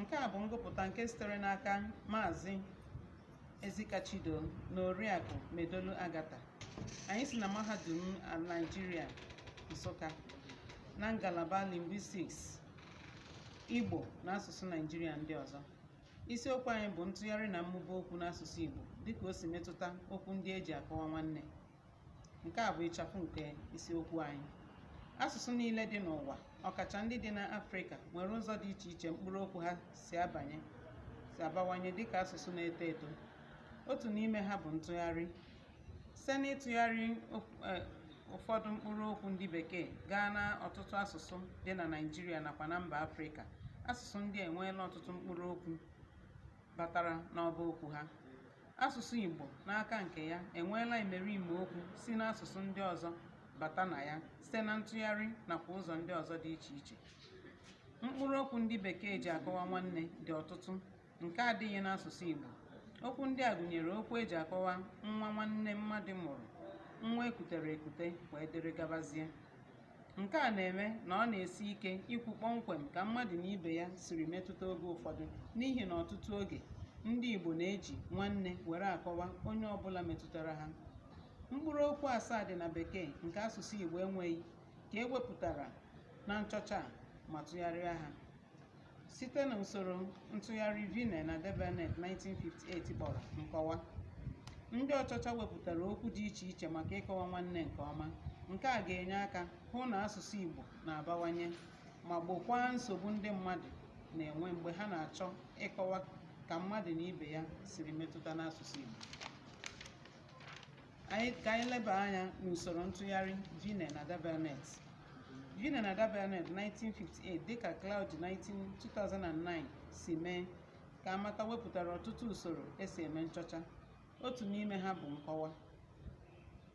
Nke a bụ ngụpụta nke sitere n'aka Maazị Ezika Chidoo na Oriakụ Medolu Agata. Anyị si na Mahadum Naịjirịa Nsụka na ngalaba Linguistics, Igbo na asụsụ Naịjirịa ndị ọzọ. Isiokwu anyị bụ ntụgharị na mmụba okwu n'asụsụ Igbo dịka o si metụta okwu ndị e ji akọwa nwanne nke a bụ ịchafụ nke isiokwu anyị asụsụ niile dị n'ụwa ọkacha ndị dị n'afrịka nwere ụzọ dị iche iche mkpụrụ okwu ha si abanye si abawanye dịka asụsụ na-eto eto otu n'ime ha bụ ntụgharị site n'ịtụgharị eh, ụfọdụ mkpụrụ okwu ndị bekee gaa na ọtụtụ asụsụ dị na naijiria nakwa na mba afrịka asụsụ ndị a enweela ọtụtụ mkpụrụ okwu batara n'ọba okwu ha Asụsụ Igbo n'aka nke ya enweela imerime okwu si n'asụsụ ndị ọzọ bata na ya site na ntụgharị nakwa ụzọ ndị ọzọ dị iche iche. Mkpụrụ okwu ndị Bekee ji akọwa nwanne dị ọtụtụ nke adịghị n'asụsụ Igbo. Okwu ndị a gụnyere okwu e ji akọwa nwa nwanne mmadụ mụrụ, nwa e kutere ekute wee dịrị gabazie. Nke a na-eme na ọ na-esi ike ikwu kpọmkwem ka mmadụ na ibe ya siri metụta oge ụfọdụ n'ihi na ọtụtụ oge, ndị Igbo na-eji nwanne were akọwa onye ọbụla metụtara ha. Mkpụrụ okwu asaa dị na Bekee nke asụsụ Igbo enweghị ka e wepụtara na nchọcha a ma tụgharịa ha. site na usoro ntụgharị Vinay na Darbelnet 1958 kpọrọ nkọwa ndị ọchọcha wepụtara okwu dị iche iche maka ịkọwa nwanne nke ọma nke a ga-enye aka hụ na asụsụ Igbo na-abawanye ma gbokwaa nsogbu ndị mmadụ na-enwe mgbe ha na-achọ ịkọwa ka mmadụ na ibe ya siri metụta n'asụsụ Igbo ka anyị leba anya n'usoro ntụgharị Vinay na Darbelnet Vinay na Darbelnet 1958 dịka Klaudy 19 2009 si mee ka a mata wepụtara ọtụtụ usoro e si eme nchọcha otu n'ime ha bụ nkọwa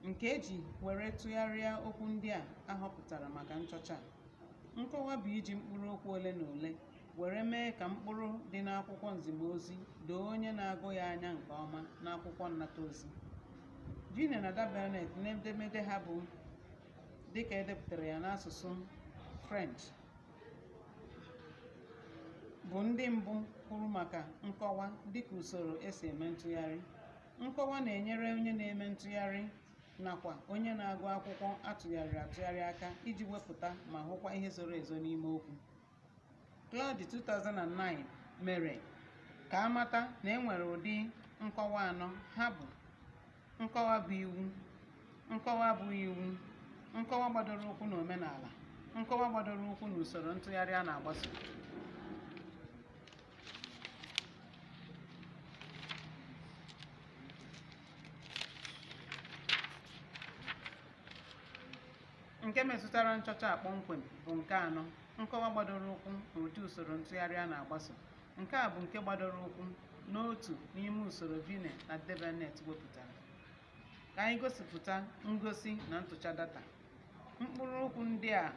nke e ji were tụgharịa okwu ndị a a họpụtara maka nchọcha a nkọwa bụ iji mkpụrụ okwu ole na ole were mee ka mkpụrụ dị n'akwụkwọ nziga ozi doo onye na-agụ ya anya nke ọma n'akwụkwọ nnata ozi Vinay na Darbelnet n'edemede ha bụ dịka e depụtara ya n'asụsụ French bụ ndị mbụ kwuru maka nkọwa dịka usoro e si eme ntụgharị nkọwa na-enyere onye na-eme ntụgharị nakwa onye na-agụ akwụkwọ a tụgharịrị atụgharị aka iji wepụta ma hụkwa ihe zoro ezo n'ime okwu Klaudy 2009 mere ka a mata na e nwere ụdị nkọwa anọ ha bụ nkọwa bụ iwu nkọwa bụ iwu nkọwa gbadoro ụkwụ na omenala nkọwa gbadoro ụkwụ na usoro ntụgharị a na-agbaso nke metụtara nchọcha a kpọmkwem bụ nke anọ nkọwa gbadoro ụkwụ n'ụdị usoro ntụgharị a na-agbaso nke a bụ nke gbadoro ụkwụ n'otu n'ime usoro Vinay na Darbelnet wepụtara ka anyị gosipụta ngosi na ntụcha data mkpụrụ okwu ndị a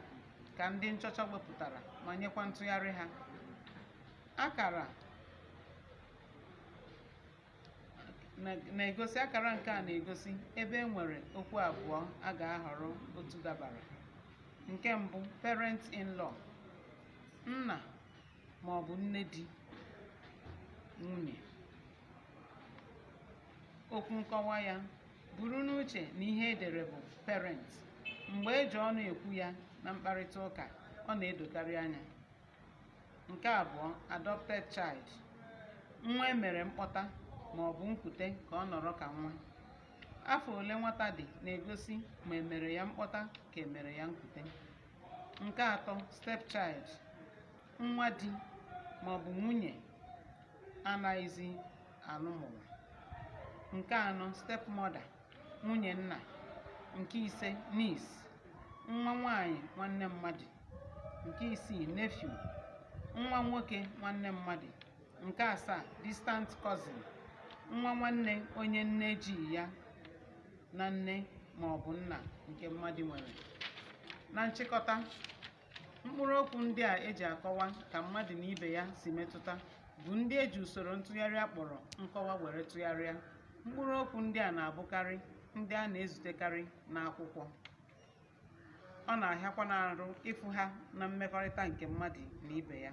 ka ndị nchọcha wepụtara ma nyekwa ntụgharị ha akara na-egosi akara nke a na-egosi ebe e nwere okwu abụọ a ga-ahọrọ otu dabara nke mbụ parent in law nna ma ọ bụ nne di nwunye okwu nkọwa ya buru n'uche na ihe e dere bụ parent mgbe e ji ọnụ ekwu ya na mkparịta ụka ọ na-edokarị anya nke abụọ adopted child nwa e mere mkpọta ma ọ bụ nkute ka ọ nọrọ ka nwa afọ ole nwata dị na-egosi ma e mere ya mkpọta ka e mere ya nkute nke atọ step child nwa di ma ọ bụ nwunye a naghịzi alụ mụrụ nke anọ step mother nwunye nna nke ise niece nwa nwanyị nwanne mmadụ nke isii nephew nwa nwoke nwanne mmadụ nke asaa distant cousin nwa nwanne onye nne ji ya na nne ma ọ bụ nna nke mmadụ nwere na nchịkọta mkpụrụ okwu ndị a e ji akọwa ka mmadụ na ibe ya si metụta bụ ndị e ji usoro ntụgharị a kpọrọ nkọwa were tụgharịa mkpụrụ okwu ndị a na-abụkarị ndị a na-ezutekarị n'akwụkwọ ọ na-ahịakwanụ arụ ịfụ ha na mmekọrịta nke mmadụ na ibe ya